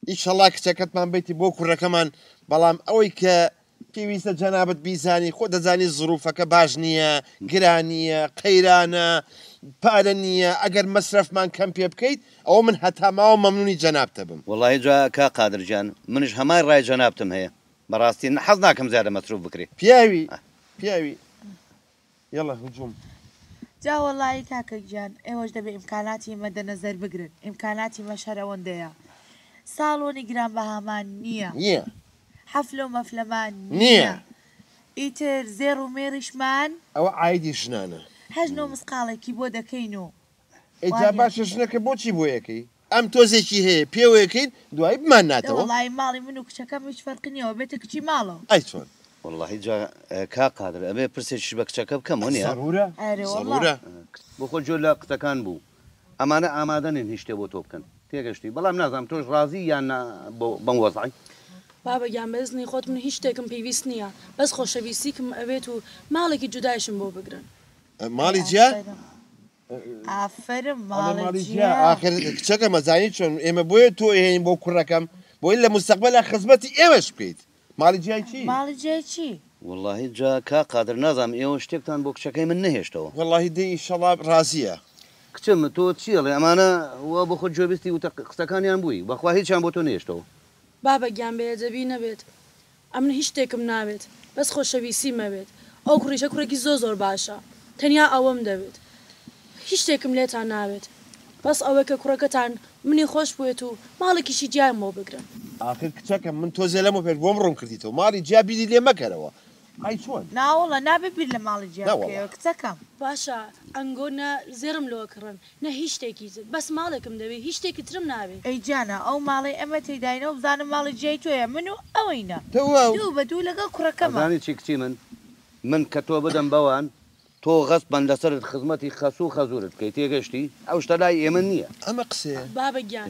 ئیشەڵا کچەکەتمان بیتی بۆ کوڕەکەمان بەڵام ئەوەی کە پێویستە جەنابت بیزانی خۆ دەزانی زروفەکە باش نییە گرانییە قەیرانە پارە نییە ئەگەر مەسرەفمان کەم پێ بکەیت ئەوە من هەتا ماوە مەمنونی جەنابتە بم. وەڵاهی جا کا قادر گیان منیش هەمان ڕای جەنابتم هەیە بەڕاستی حەز ناکەم زیادە مەسروف بکری. پیاوی پیاوی یەڵە هجوم. جا وەڵایی کاکە گیان ئێوەش دەبێ ئیمکاناتی مەدنەزەر بگرن ئیمکاناتی مەش هەر ئەوەندەیە ساڵۆنی گران بەهامان نیە نیە حەفلەو مەفلەمان نیە نیە ئیتر زێڕ و مێڕیشمان ئەوە عایدی ژنانە. هەشت نۆ مسقاڵێکی بۆ دەکەین و. ئەی جا باشە ژنەکە بۆچی بۆیەکەی ئەم تۆزێکی هەیە پێوەکەین دوایی بماناتەوە. وەڵایی ماڵی من و کچەکەم هیچ فەرقی نیە وەبێتە کچی ماڵەوە. ئەی چۆن. وەڵاهی جا کاک قادر ئەبێ پرسێکیش بە کچەکە بکەم وەنیە؟ زەرورە زەرورە. بۆخۆت جۆر لە قسەکان بوو. ئەمانە ئامادە نین هیچ شتێ بۆ تۆ بکەن تێگەشتی بەڵام نازانم تۆش ڕازی یان نا بەم وەزعەی. بابە گیان بەزنی خۆت من هیچ شتێکم پیویست نیە بەس خۆشەویستیکم ئەوێت و ماڵێکی جودایشم بۆ بگرن. ماڵی جیا ئافرم ماڵی جیا ئاخر کچەکە مەزانی چۆن ئێمە بۆیە تۆ هێین بۆ کوڕەکەم بۆی لە مستەقبە لە خزمەتی ئێوەش بکەیت ماڵی جای چی ماڵی جای چی واللهی جا کا قادر نازام ئێوە شتێکتان بۆ کچەکەی من نەهێشتەوە واللهی دەی ئیشەڵا ڕازیە. کچم تۆ چی ئەڵێ ئەمانە وا بۆ خۆت گوێبیستی وتە قسەکانیان بووی بەخوا هیچیان بۆ تۆ نەهێشتەوە. بابە گیان بێ ئەدەبی نەبێت ئەمن هیچ شتێکم ناوێت بەس خۆشەویسیم ئەوێت ئەو کوڕیشە کوڕێکی زۆر زۆر باشە تەنیا ئەوم دەوێت هیچ شتێکم لێتان ناوێت بەس ئەوەی کە کوڕەکەتان منی خۆش بوێت و ماڵێکیشی جیایم بۆ بگرن. ئاخر کچەکەم من تۆزێ لەمە پێش بۆم ڕوون کردیتەوە ماڵی جیا بیری لێ مەکەرەوە ئای چۆن. ناوەڵا نابێ بیر لە ماڵی جیا بکەیەوە کچەکەم. باشە ئەنگۆ نە زێڕم لۆ ئەکڕن نە هیچ شتێکی تر بەس ماڵێکم دەوێ هیچ شتێکی ترم ناوێ. ئەی جانە ئەو ماڵەی ئەمە تێداینەوە بزانم ماڵی جیای تۆیە من و ئەوینە دوو بە دوو لەگەڵ کوڕەکەمان. ئەزانی چی کچی من من کە تۆ بدەم بەوان تۆ غەسبەن لەسەرت خزمەتی خەسوو خەزوورت بکەی تێگەشتی ئەو شتە لای ئێمە نییە. ئەمە قسەیە. بابە گیان